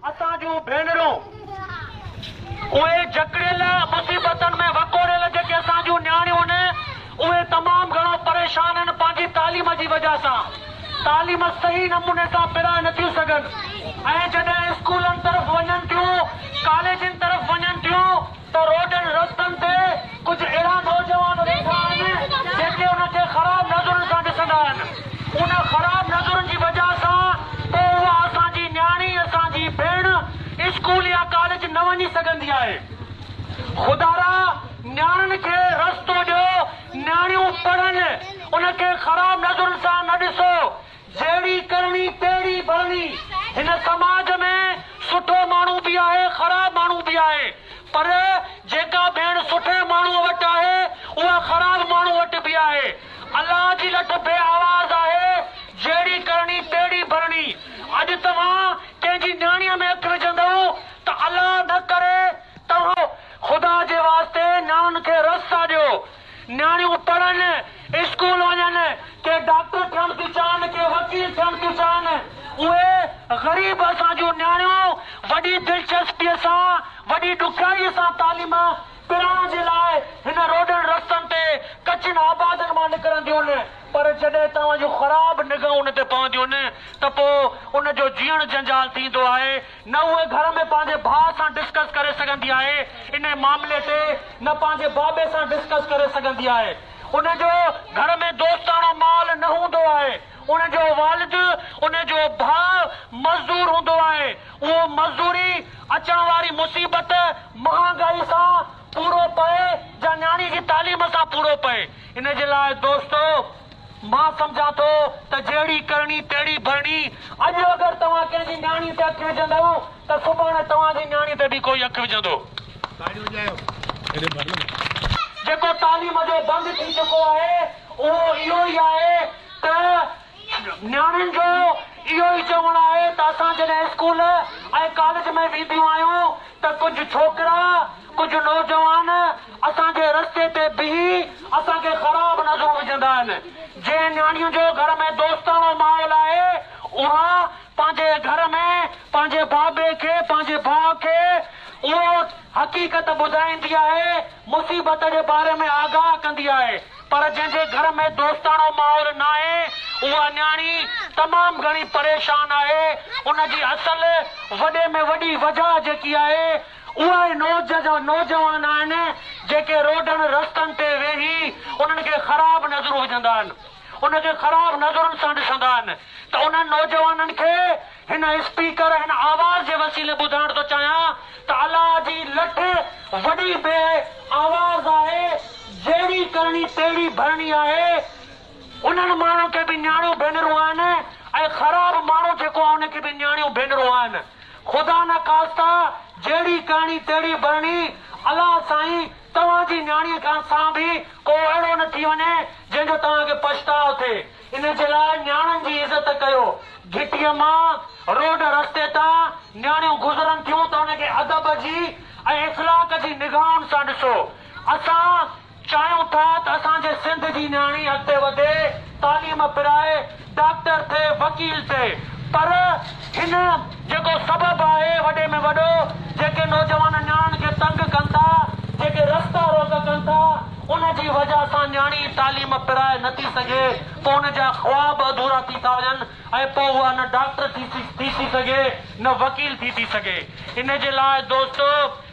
اسان جون ڀينرون، اهي جڪڙيل مصيبتن ۾ وڪوڙيل جيڪي اسان جون نياڻيون هن، اهي تمام گهڻو پريشان هن پنهنجي تعليم جي وجهه سان، تعليم صحيح نموني سان پرائي نٿيون سگهن ۽ جڏهن اسڪولن طرف وڃن ٿيون، ڪاليجن طرف وڃن ٿيون، ته روڊن رستن تي ڪجهه اهڙا نوجوان ويٺا آهن جيڪي ان کي خراب نظرن سان ڏسندا آهن. ان خراب نظرن جي وجه سان پوء اها اسان جي نياڻي، اسان جي ڀيڻ اسڪول يا ڪاليج نه وڃي سگهندي آهي. خدارا نياڻين کي رستو ڏيو، نياڻيون پڙهن، ان کي خراب نظرن سان نه ڏسو. جهڙي ڪرڻي تهڙي ڀرڻي. هن سماج ۾ سٺو ماڻهو به آهي خراب ماڻهو به آهي پر جيڪا ڀيڻ سٺي ماڻهوء وٽ آهي اها خراب ماڻهوء وٽ به آهي. الله جي لٺ بي آواز آهي جهڙي ڪرڻي تهڙي ڀرڻي. اڄ توهان ڪنهن جي نياڻيء ۾ اک وجهندئو ته الله نه ڪري توهان کي خدا جي واسطي نياڻين کي رس ساڏيو. نياڻيون پڙهن، اسڪول وڃن، ڪي ڊاڪٽر ٺهڻ ٿيون چاهن، ڪي وڪيل ٺهڻ ٿيون چاهن. اهي غريب اسان جون نياڻيون وڏي دلچسپيء سان، وڏي ڏکيائيء سان تعليم پرائڻ جي لاء هن روڊن رستن تي ڪچين آبادين مان نڪرنديون، پر جڏهن توهان جون خراب نگاهون ان تي پونديون ته پوء ان جو جيئڻ جنجال ٿيندو آهي. نه هوء گهر ۾ پنهنجي ڀاء سان ڊسڪس ڪري سگهندي آهي انهي معاملي تي نه پنهنجي بابي سان ڊسڪس ڪري سگهندي آهي ان جو گهر ۾ دوستاڻو ماحول نه هوندو آهي ان جو والد ان جو ڀاء مزدور هوندو آهي اهو مزدوري اچڻ واري مصيبت مهانگائي سان پورو پئي جا نياڻي جي تعليم سان پورو پئي ان جي لاء دوستو مان سمجهان ٿو ته جهڙي ڪرڻي تهڙي ڀرڻي. اڄ اگر توهان ڪنهن جي نياڻي تي اک وجهندؤ ته سڀاڻي توهان جي نياڻي تي به ڪوئي اک وجهندو. جيڪو تعليم جو بند ٿي چڪو آهي اهو اهو ئي آهي ته نياڻين جو اهو ئي چوڻ آهي ته اسان جڏهن اسڪول ۽ ڪاليج ۾ وينديون آهيون ته ڪجهه ڇوڪرا ڪجهه نوجوان اسان جي رستي تي بيهي اسان کي خراب نظرون وجهندا آهن. جنهن نياڻيء جو گهر ۾ دوستاڻو ماحول آهي، اها پنهنجي گهر ۾ پنهنجي بابي کي، پنهنجي ڀاء کي اهو حقيقت ٻڌائيندي آهي، مصيبت جي باري ۾ آگاهه ڪندي آهي. پر جنهن جي گهر ۾ دوستاڻو ماحول ناهي، اها نياڻي تمام گهڻي پريشان آهي. ان جي اصل وڏي ۾ وڏي وجهه جيڪي آهي، اهي نوجوان آهن جيڪي روڊن رستن تي ويهي انهن کي خراب نظرون وجهندا آهن، ان کي خراب نظرن سان ڏسندا آهن ته انهن نوجوانن کي هن اسپيڪر هن آواز جي وسيلي ٻڌائڻ ٿو چاهيان ته الله جي لٺ وڏي بي آواز آهي جهڙي ڪرڻي تهڙي ڀرڻي آهي انهن ماڻهن کي به نياڻيون ڀينرون آهن ۽ خراب ماڻهو جيڪو آهي ان کي به نياڻيون ڀينرون آهن. خدا نه خاستا جهڙي ڪهڻي تهڙي برڻي. الله سائين توهان جي نياڻيء کان سان به ڪو اهڙو نه ٿي وڃي جنهن جو توهان کي پڇتاء ٿئي. ان جي لاء نياڻن جي عزت ڪيو. گهٽيء مان روڊ رستي تان نياڻيون گذرن ٿيون ته ان کي ادب جي ۽ اخلاق جي نگاهن سان ڏسو. اسان. چاهيون ٿا ته اسان جي سنڌ جي نياڻي اڳتي وڌي، تعليم پرائي، ڊاڪٽر ٿئي، وڪيل ٿئي پر هن جيڪو سبب آهي وڏي ۾ وڏو جيڪي نوجوان نياڻين کي تنگ ڪن ٿا، جيڪي رستا روڪ ڪن ٿا ان جي وجهه سان نياڻي تعليم پرائي نه ٿي سگهي پوء ان جا خواب اڌورا ٿي ٿا وڃن ۽ پوء اها نه ڊاڪٽر ٿي ٿي سگهي نه وڪيل ٿي ٿي سگهي ان جي لاء دوستو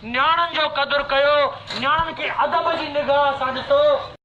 نياڻين جو قدر ڪيو، نياڻين کي ادب جي نگاهه سان ڏسو.